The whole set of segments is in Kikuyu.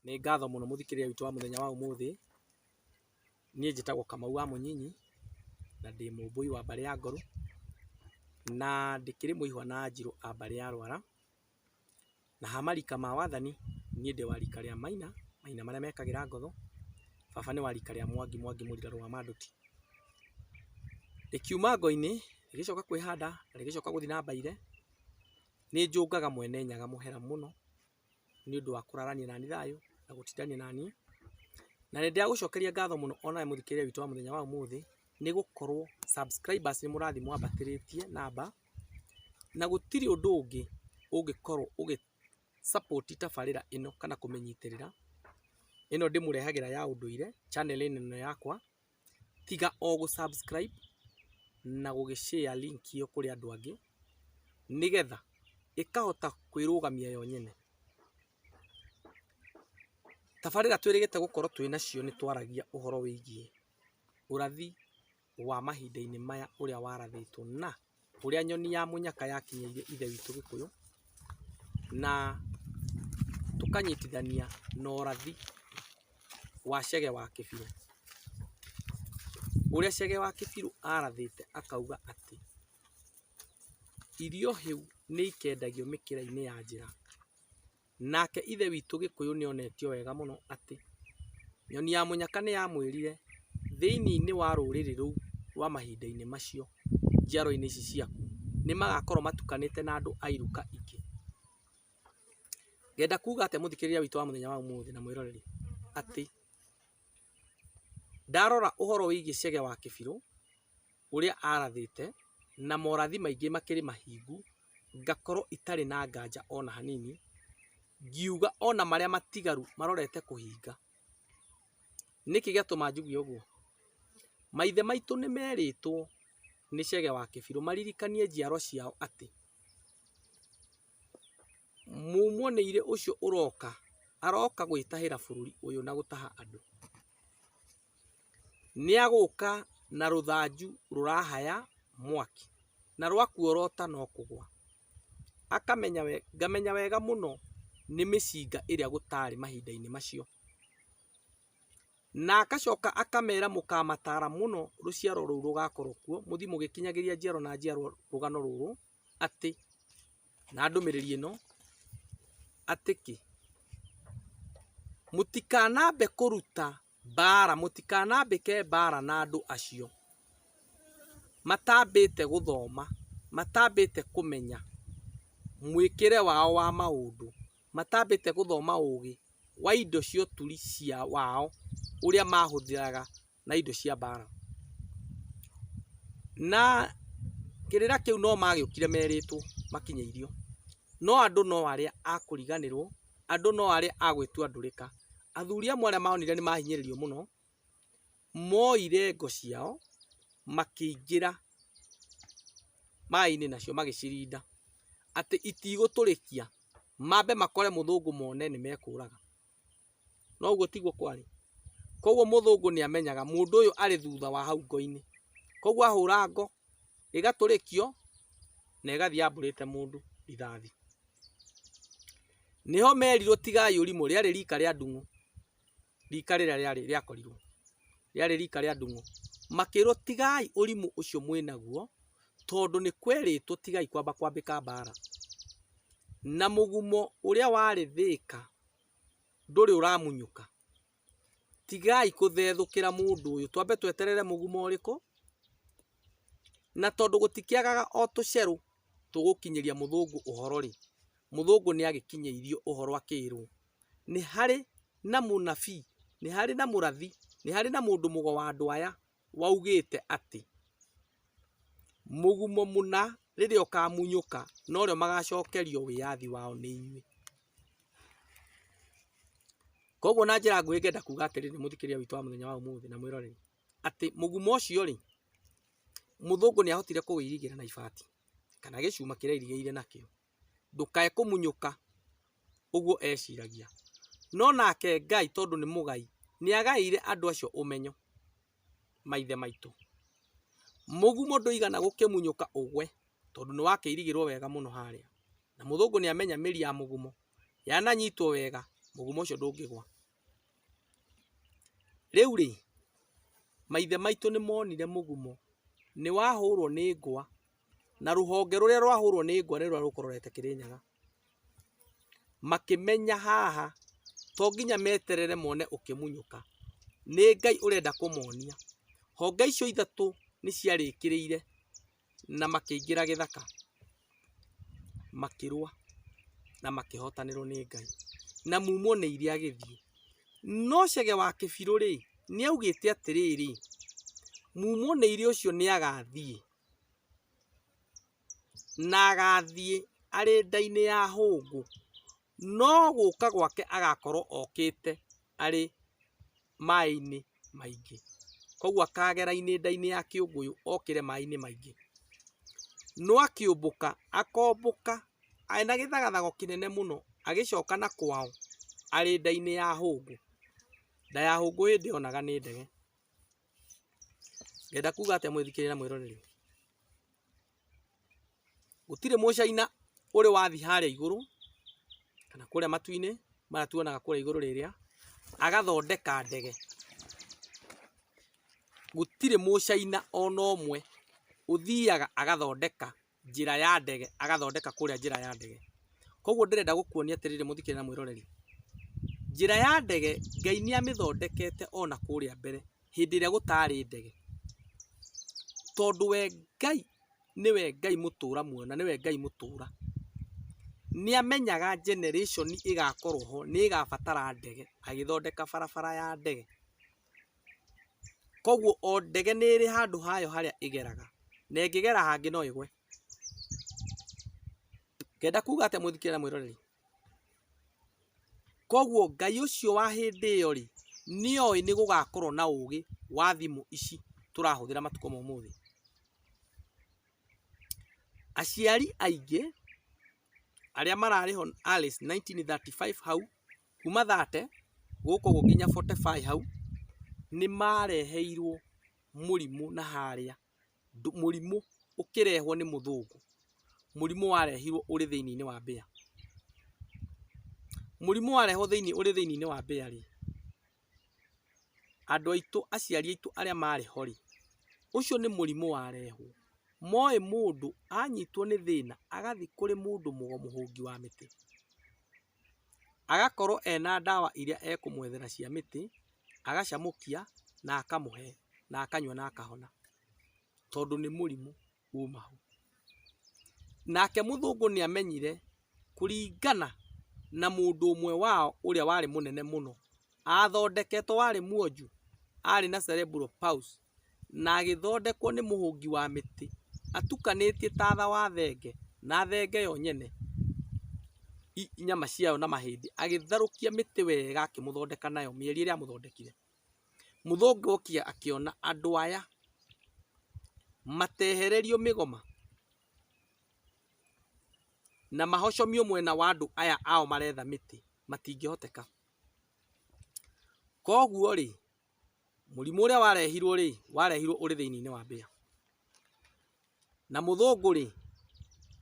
Nĩ ngatho mũno mũthikĩrĩria witũ wa mũthenya wa ũmũthĩ. Niĩ njĩtagwo Kamau wa Mũnyinyi, na ndĩ Mũmbũi wa mbarĩ ya Ngorũ, na ndĩkĩrĩ mũihwa na Anjirũ a mbarĩ ya Rwara. Na ha marika ma wathani, niĩ ndĩ wa rika rĩa Maina, Maina marĩa mekagĩra ngotho. Baba nĩ wa rika rĩa Mwangi, Mwangi Mũrira Rũa Manduti. Rĩkiuma ngo-inĩ, rĩgĩcoka kwĩhanda, na rĩgĩcoka gũthiĩ na mbaire, nĩ njũngaga Mwene Nyaga mũhera mũno. nĩ ũndũ wa kũrarania naniĩ thayũ na gũtindania naniĩ. Na nĩ ndagũcokeria ngatho mũno o nawe mũthikĩrĩria witũ wa mũthenya wa ũmũthĩ nĩ gũkorwo subscribers nĩ mũrathiĩ mwambatĩrĩtie namba, na gũtirĩ ũndũ ũngĩ ũngĩkorwo ũgĩ support tabarĩra ĩno kana kũmĩnyitĩrĩra, ĩno ndĩmũrehagĩra ya ũndũire channel ĩno yakwa. tiga o gũ subscribe na gũgĩ share link ĩyo kũrĩ andũ angĩ nĩgetha ĩkahota kwĩrũgamia yo nyene. Tabarĩra twĩrĩgĩte gũkorwo twĩ nacio nĩ twaragia ũhoro wĩgiĩ ũrathi wa mahinda-inĩ maya ũrĩa warathĩtwo na ũrĩa nyoni ya mũnyaka yakinyĩire Ithe witũ Gĩkũyũ, na tũkanyitithania na ũrathi wa Chege wa Kĩbirũ. Ũrĩa Chege wa Kĩbirũ arathĩte akauga atĩ, irio hĩu nĩikendagio mĩkĩra-inĩ ya njĩra. Nake Ithe witũ Gĩkũyũ nĩ onetio wega mũno atĩ Nyoni ya Mũnyaka nĩ yamwĩrire, Thĩinĩ wa rũrĩrĩ rũu rwa mahinda-inĩ macio, njiarũa-inĩ ici ciaku, nĩ magaakorũo matukanĩte na andũ a iruka ingĩ. Ngenda kuuga atĩa mũthikĩrĩria witũ wa mũthenya wa ũmũthĩ na mwĩroreri? Atĩ ndarora ũhoro wĩgiĩ Chege wa Kĩbirũ, ũrĩa arathĩte, na morathi maingĩ makĩrĩ mahingu, ngakorwo itarĩ na nganja ona hanini, ngiuga ona marĩa matigaru marorete kũhinga. Nĩkĩ gĩatũma njuge ũguo? Maithe maitũ nĩmerĩtwo nĩ Chege wa Kĩbirũ maririkanie njiaro ciao atĩ, Mumwoneire ũcio ũroka, aroka gwĩtahĩra bũrũri ũyũ na gũtaha andũ. Nĩagũka na rũthanju rũrahaya mwaki, na rwakuorota no kũgwa. Akamenya wega, ngamenya wega mũno nĩ mĩcinga ĩrĩa gũtarĩ mahinda-inĩ macio. Na agacoka akamera mũkamatara mũno rũciaro rũu rũgakorwo kuo, mũthiĩ mũgĩkinyagĩria njiarwa na njiarwa rũgano rũrũ. atĩ, na ndũmĩrĩri ĩno, atĩ kĩ? Mũtikanambe kũruta mbara, mũtikanambĩke mbara na andũ acio matambĩte gũthoma, matambĩte kũmenya mwĩkĩre wao wa maũndũ, matambĩte gũthoma ũgĩ wa indo cia ũturi wao ũrĩa mahũthĩraga na indo cia mbaara. Na kĩrĩra kĩu no magĩũkire merĩtwo makinyĩirio. No andũ no arĩa a kũriganĩrwo, andũ no arĩa a gwĩtua ndũrĩka. Athuri amwe arĩa maonire nĩ mahinyĩrĩrio mũno, moire ngo ciao makĩingĩra maaĩ-inĩ nacio magĩcirinda atĩ itigũtũrĩkia, mambe makore mũthũngũ mone nĩ mekũũraga. Noguo tiguo kwarĩ? Koguo mũthũngũ nĩ amenyaga mũndũ ũyũ arĩ thutha wa hau ngo-inĩ. Koguo ahũra ngo, ĩgatũrĩkio na ĩgathiĩ yambũrĩte mũndũ rithathi. Nĩho merirwo tigai ũrimũ, rĩarĩ rika rĩa ndung'ũ, rika rĩrĩa rĩarĩ rĩakorirwo, rĩarĩ rika rĩa ndung'ũ. Makĩrwo tigai ũrimũ ũcio mwĩnaguo, tondũ nĩ kwerĩtwo tigai kwamba kwambĩka mbara. Na mũgumo ũrĩa warĩ Thĩka ndũrĩ ũramunyũka. Tigai kũthethũkĩra mũndũ ũyũ. Twambe tweterere mũgumo ũrĩkũ, na tondũ gũtikĩagaga o tũcerũ tũgũkinyĩria mũthũngũ ũhoro rĩ, mũthũngũ nĩ agĩkinyĩirio ũhoro akĩrwo, nĩ harĩ na mũnabii, nĩ harĩ na mũrathi, nĩ harĩ na mũndũ mũgo wa andũ aya. waugĩte atĩ, Mũgumo mũna rĩrĩa ũkamunyũka, norĩo magacokerio wĩyathi wao nĩ inyuĩ. Koguo na njĩra nguhĩ ngenda kuuga atĩrĩrĩ mũthikĩrĩria witũ wa mũthenya wa ũmũthĩ na mwĩroreri, atĩ mũgumo ũcio rĩ, mũthũngũ nĩ ahotire kũwĩirigĩra na ibati, kana gĩcuma kĩrĩa airigĩire nakĩo. ndũkae kũmunyũka, ũguo eciragia. No nake Ngai tondũ nĩ mũgai, nĩ agaĩire andũ acio ũmenyo, maithe maitũ. Mũgumo ndũigana gũkĩmunyũka ũgwe, tondũ nĩ wakĩirigĩrwo wega mũno harĩa. Na mũthũngũ nĩ amenya mĩri ya mũgumo, yananyitwo wega, mũgumo ũcio ndũngĩgwa. Rĩu rĩ, maithe maitũ nĩ monire mũgumo, nĩ wahũrwo nĩ ngwa, na rũhonge rũrĩa rwahũrwo nĩ ngwa nĩrũrĩa rũkũrorete Kĩrĩnyaga, makĩmenya haha to nginya meterere mone ũkĩmunyũka, nĩ Ngai ũrenda kũmonia. Honge icio ithatũ nĩ ciarĩkĩrĩire na makĩingĩra gĩthaka makĩrũa na makĩhotanĩrwo nĩ Ngai na mumwo nĩ iria agĩthiĩ. No Chege wa Kĩbirũ rĩ, nĩ augĩte atĩrĩrĩ, mumwo nĩ iria ũcio nĩ agathiĩ Na agaathiĩ arĩ nda-inĩ ya hũngũ, no gũũka gwake agaakorwo okĩte arĩ maĩ-inĩ maingĩ. Kwoguo akaagera inĩnda-inĩ ya kĩũngũyũ okĩre maĩ-inĩ maingĩ. No akĩũmbũka, akombũka arĩ na gĩthagathago kĩnene mũno agĩcoka na kwao arĩ nda-inĩ ya hũngũ. Nda ya hũngũ hĩndĩ ĩyo onaga nĩ ndege. Ngenda kuga atĩa mwĩthikĩrĩria na mwĩroreri? Gũtirĩ mũcaina ũrĩ wathi harĩa igũrũ kana kũrĩa matu-inĩ maya tuonaga kũrĩa igũrũ rĩrĩa agathondeka ndege. Gũtirĩ mũcaina ona ũmwe ũthiaga agathondeka njĩra ya ndege agathondeka kũrĩa njĩra ya ndege koguo ndĩrenda gũkuonia atĩrĩrĩ mũthikĩrĩria na mwĩroreri njĩra ya ndege Ngai nĩ amĩthondekete ona kũrĩa mbere hĩndĩ ĩrĩa gũtarĩ ndege tondũ we Ngai nĩwe Ngai mũtũra muoyo na nĩwe Ngai mũtũra nĩ amenyaga generation ĩgakorwo ho nĩ ĩgabatara ndege agĩthondeka barabara ya ndege Koguo o ndege nĩ ĩrĩ handũ hayo harĩa ĩgeraga, na ĩngĩgera hangĩ no ĩgwe. Ngenda kuga atĩa mũthikĩria na mwĩroreri? Koguo Ngai ũcio wa hĩndĩ ĩyo rĩ, nĩ oĩ nĩ gũgakorwo na ũgĩ wa thimũ ici tũrahũthĩra matukũ ma ũmũthĩ. Aciari aingĩ arĩa mararĩ ho Alice 1935 hau Kuma 30 gũkũ ũguo nginya 45 hau, nĩ mareheirwo mũrimũ na harĩa, mũrimũ ũkĩrehwo nĩ mũthũngũ, mũrimũ warehirwo ũrĩ thĩiniĩ wa mbĩa. Mũrimũ warehwo ũrĩ thĩiniĩ wa mbĩa rĩ, andũ aitũ aciari aitũ arĩa marĩ ho rĩ, ũcio nĩ mũrimũ warehwo. Moĩ mũndũ anyitwo nĩ thĩna agathiĩ kũrĩ mũndũ mũgo mũhũngi wa mĩtĩ. Agakorwo ena ndawa iria ekũmwethera cia mĩtĩ, agacamũkia na akamũhe na akanyua na akahona, tondũ nĩ mũrimũ uma ho. Nake mũthũngũ nĩ amenyire kũringana na mũndũ ũmwe wao ũrĩa warĩ mũnene mũno, athondeketwo warĩ mwonju, arĩ na Cerebral Palsy, na agĩthondekwo nĩ mũhũngi wa mĩtĩ atukanĩtie tatha wa thenge na thenge yo nyene nyama ciayo na mahĩndĩ agĩtharũkia mĩtĩ wega akĩmũthondeka nayo mĩeria ĩrĩa amũthondekire. Mũthũngũ okire akĩona andũ aya matehererio mĩgoma na mahocomio mwena wa andũ aya ao maretha mĩtĩ matingĩhoteka. Koguo rĩ Mũrimũ ũrĩa warehirwo rĩ, warehirwo ũrĩ thĩiniĩ wa mbĩa. Na mũthũngũ rĩ,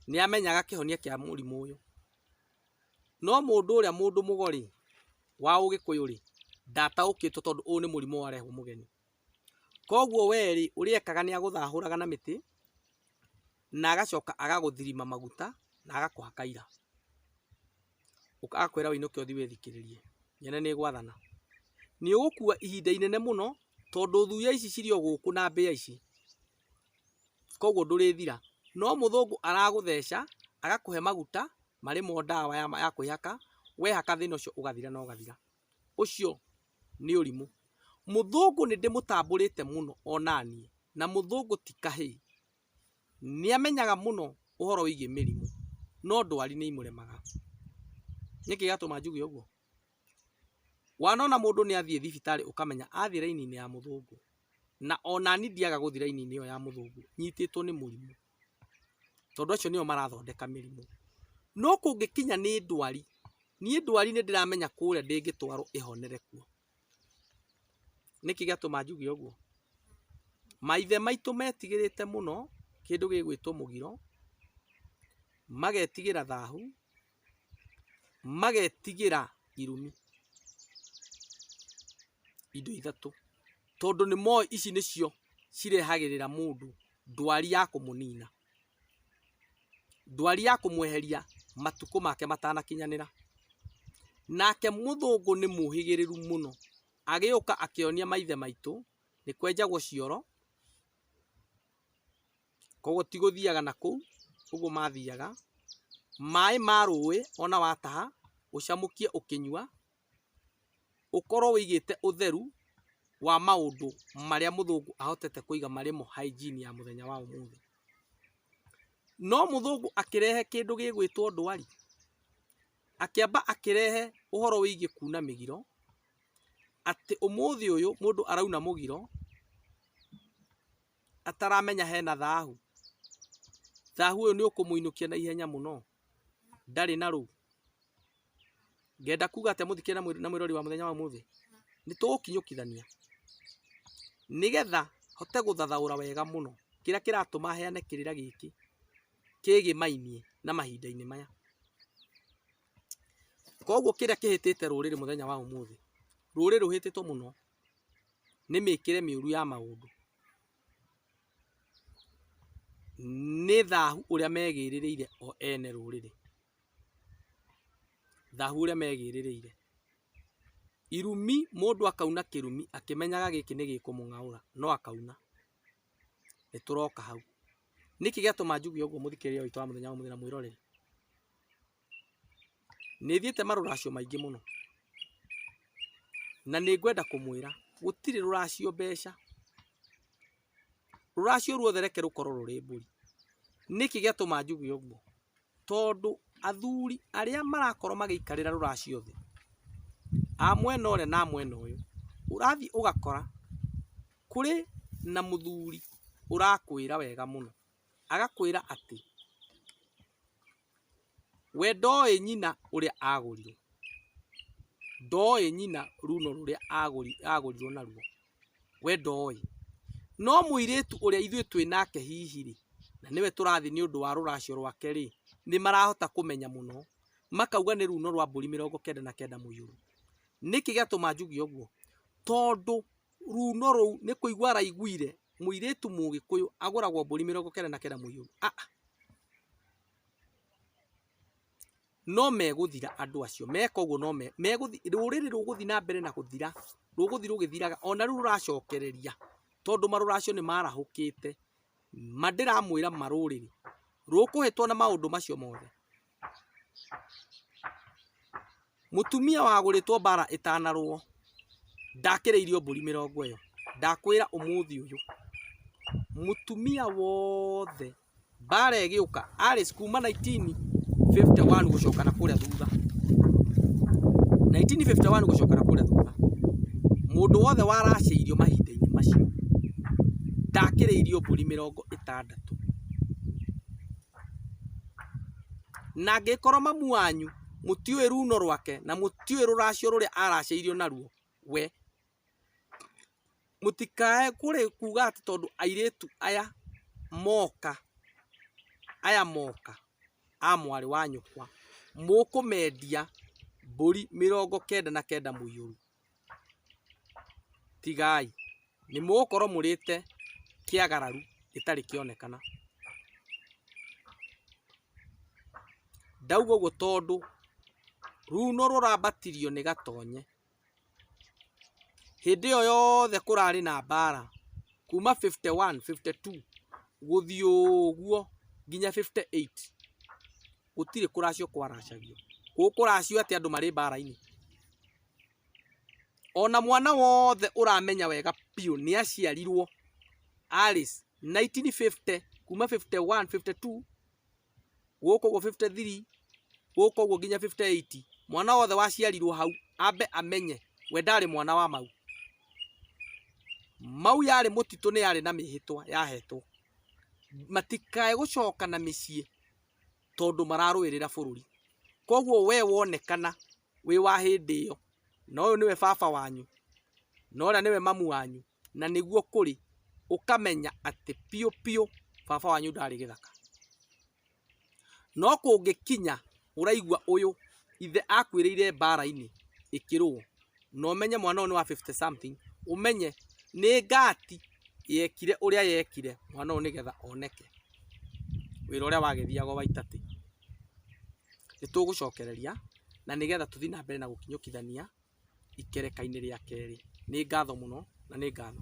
nĩ amenyaga kĩhonia kĩa mũrimũ ũyũ. No mũndũ ũrĩa mũndũ mũgo rĩ, wa ũgĩkũyũ rĩ, ndataũkĩtwo tondũ ũyũ nĩ mũrimũ warehwo mũgeni. Koguo we rĩ, ũrĩa ekaga nĩ agũthahũraga na mĩtĩ, na agacoka agagũthirima maguta na agakũha kaira. Agakwĩra ũinũke ũthiĩ wĩthikĩrĩrie, nyone nĩ gwathana. Nĩ ũgũkua ihinda inene mũno tondũ thuya ici cirĩ o gũkũ na mbĩa ici, koguo ndũrĩthira. No mũthũngũ aragũtheca agakũhe maguta marĩ mo ndawa ya kwĩhaka, wehaka thĩna ũcio ũgathira na ũgathira. ũcio nĩ ũrimũ. Mũthũngũ nĩ ndĩmũtambũrĩte mũno onaniĩ, na mũthũngũ ti kahĩĩ. Nĩ amenyaga mũno ũhoro wĩgiĩ mĩrimũ, no ndwari nĩ imũremaga. Nĩ kĩĩ gĩatũma njuge ũguo? Wanona mũndũ nĩ athiĩ thibitarĩ ũkamenya athiĩ raini-inĩ ya mũthũngũ, na onaniĩ ndiaga gũthiĩ raini-inĩ ĩyo ya mũthũngũ, nyitĩtwo nĩ mũrimũ. tondũ acio nĩo marathondeka mĩrimũ. No kũngĩkinya nĩ ndwari, niĩ ndwari nĩ ndĩramenya kũrĩa ndĩngĩtwarwo ĩhonere kuo. Nĩkĩ gĩatũma njuge ũguo? Maithe maitũ metigĩrĩte mũno kĩndũ gĩgwĩtwo mũgiro, magetigĩra thahu. magetigĩra irumi indo ithatũ tondũ nĩ moĩ ici nĩcio cirehagĩrĩra mũndũ ndwari ya kũmũnina ndwari ya kũmweheria matukũ make matanakinyanĩra nake mũthũngũ nĩ mũhĩgĩrĩru mũno agĩũka akĩonia maithe maitũ nĩ kwenjagwo cioro Koguo ti gũthiaga na kũu, ũguo mathiaga. Maĩ ma rũĩ ona wataha, ũcamũkie ũkĩnyua, ũkorwo wĩigĩte ũtheru wa maũndũ marĩa mũthũngũ ahotete kũiga marĩ mo hygiene ya mũthenya wa ũmũthĩ. No mũthũngũ akĩrehe kĩndũ gĩgwĩtwo ndwari, akĩamba akĩrehe ũhoro wĩgiĩ kuna mĩgiro, atĩ ũmũthĩ ũyũ mũndũ arauna mũgiro. ataramenya hena thahu, thahu ũyũ nĩ ũkũmũinũkia na ihenya mũno, ndarĩ na rũu. Ngenda kuga atĩ mũthikĩrĩria na mwĩ- na mwĩrori wa mũthenya wa ũmũthĩ, nĩ tũgũkinyũkithania nĩgetha hote gũthathaũra wega mũno kĩrĩa kĩratũma heane kĩrĩra gĩkĩ kĩgĩmainie na mahinda-inĩ maya. Koguo kĩrĩa kĩhĩtĩte rũrĩrĩ mũthenya wa ũmũthĩ, rũrĩrĩ rũhĩtĩtwo mũno nĩ mĩkĩre mĩũru ya maũndũ, nĩ thahu ũrĩa megĩrĩrĩire o ene rũrĩrĩ, thahu ũrĩa megĩrĩrĩire, irumi mũndũ akauna kĩrumi akĩmenyaga gĩkĩ nĩ gĩkũmũng'aũra no akauna, nĩ tũroka hau, nĩkĩ gĩatũma njuge ũguo mũthikĩrĩria witũ wa mũthenya wa ũmũthĩ na mwĩroreri? Nĩ thiĩte marũracio maingĩ mũno. Na nĩ ngwenda kũmwĩra, gũtirĩ rũracio mbeca. Rũracio ruothe reke rũkorwo rũrĩ mbũri. Nĩkĩ gĩatũma njuge ũguo? Tondũ athuri arĩa marakorwo magĩikarĩra rũracio thĩ, a mwena ũrĩa na a mwena ũyũ, ũrathiĩ ũgakora kũrĩ na mũthuri ũrakwĩra wega mũno. Agakwĩra atĩ... We ndooĩ nyina ũrĩa agũrirwo, ndooĩ nyina ruuno rũrĩa agũrirwo naruo, we ndooĩ. No mũirĩtu ũrĩa ithuĩ twĩ nake hihi-rĩ, na nĩwe tũrathiĩ nĩ ũndũ wa rũracio rwake-rĩ, nĩ marahota kũmenya mũno, makauga nĩ ruuno rwa mbũri mĩrongo kenda na kenda mũiyũro. Nĩkĩ gĩatũma njuge ũguo? Tondũ Ruuno rũu nĩ kũigua araiguire mũirĩtu mũgĩkũyũ agũragwo mbũri mĩrongo kenda na kenda mũihũru. Aa! No megũthira andũ acio, meka ũguo no me, megũthi, rũrĩrĩ rũgũthi na mbere na gũthira, rũgũthi rũgĩthiraga, ona rĩu rũracokereria, tondũ marũra acio nĩ marahũkĩte. Ma ndĩramwĩra ma rũrĩrĩ, rũkũhĩtwo na maũndũ macio mothe. Mũtumia wagũrĩtwo mbara ĩtanarũo ndakĩrĩirio mbũri mĩrongo ĩyo. Ndakwĩra ũmũthĩ ũyũ mũtumia wothe mbara ĩgĩũka arĩ kuma 1951 gũcoka na kũrĩa thutha 1951 gũcoka na kũrĩa thutha mũndũ wothe waracĩirio mahinda-inĩ macio ndakĩrĩirio mbũri mĩrongo ĩtandatũ. Na angĩkorwo mamu wanyu mũtiũĩ ruuno rwake, na mũtiũĩ rũracio rũrĩa aaracĩirio naruo we, mũtikae kuuga atĩ tondũ airĩtu aya moka, aya moka a mwarĩ wa nyũkwa, mũkũmendia mbũri mĩrongo kenda na kenda mũiyũru. Tigai, nĩ mũgũkorwo mũrĩte kĩagararu gĩtarĩ kĩonekana. Ndauga ũguo tondũ ruuno rũrambatirio nĩ gatonye. Hĩndĩ ĩyo yothe kũrarĩ na mbaara, kuuma fifty one, fifty two, gũthiĩ ũguo nginya fifty eight. Gũtirĩ kũracio kwaracagio. Gũkũ kũracio atĩ andũ marĩ mbara-inĩ. Ona mwana wothe ũramenya wega biũ nĩ aciarirwo arĩ 1950 kuma 51, 52 gũkũ ũguo 53 gũkũ ũguo nginya 58 mwana wothe waciarirwo hau ambe amenye we ndarĩ mwana wa mau. Mau yarĩ mũtitũ nĩ yarĩ na mĩhĩtwa yahetwo. Matikae gũcoka na mĩciĩ. tondũ mararũĩrĩra bũrũri. Koguo we wonekana wĩ wa hĩndĩ ĩyo, na ũyũ nĩwe baba wanyu, na ũrĩa nĩwe mamu wanyu, na nĩguo kũrĩ, ũkamenya atĩ biũ biũ baba wanyu ndarĩ gĩthaka. No kũngĩkinya ũraigua ũyũ ithe akuĩrĩire mbara-inĩ ĩkĩrũo. na ũmenye mwana ũyũ nĩ wa 50 something ũmenye nĩ ngati yekire ũrĩa yekire mwana ũyũ nĩgetha oneke wĩra ũrĩa wagĩthiaga wa itatĩ nĩ tũgũcokereria na nĩgetha tũthiĩ na mbere na gũkinyũkithania ikereka-inĩ rĩa kerĩ nĩ ngatho mũno na nĩ ngatho